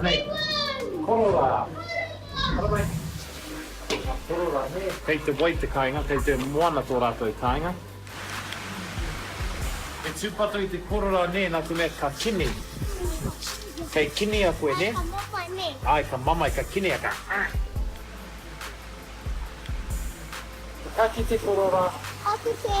Anei, kororā! Ara mai! Ka kororā nē? Kei te wai te kāinga, kei te moana tō rātou kāinga. E tūpato i te kororā nē, nā te mea ka kini. Kei kinia koe nē? Ka mamae nē? Āe, ka mamae, ka kinia, ka. Ka kite kororā. Ka kite.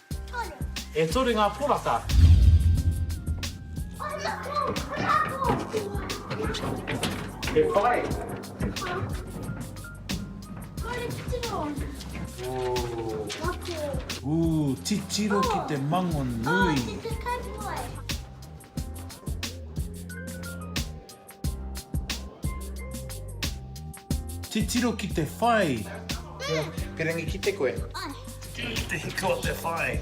E toru ngā poraka. He whare. Ooh, titiro ki te mango nui. Titiro ki te whai. Pirangi ki te koe. Titiro ki te hiko o te whai.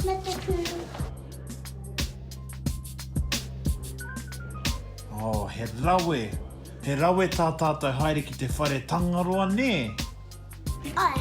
Me te kuru. Oh, he rawe. He rawe tā tātou haere ki te whare Tangaroa, nē? Ai.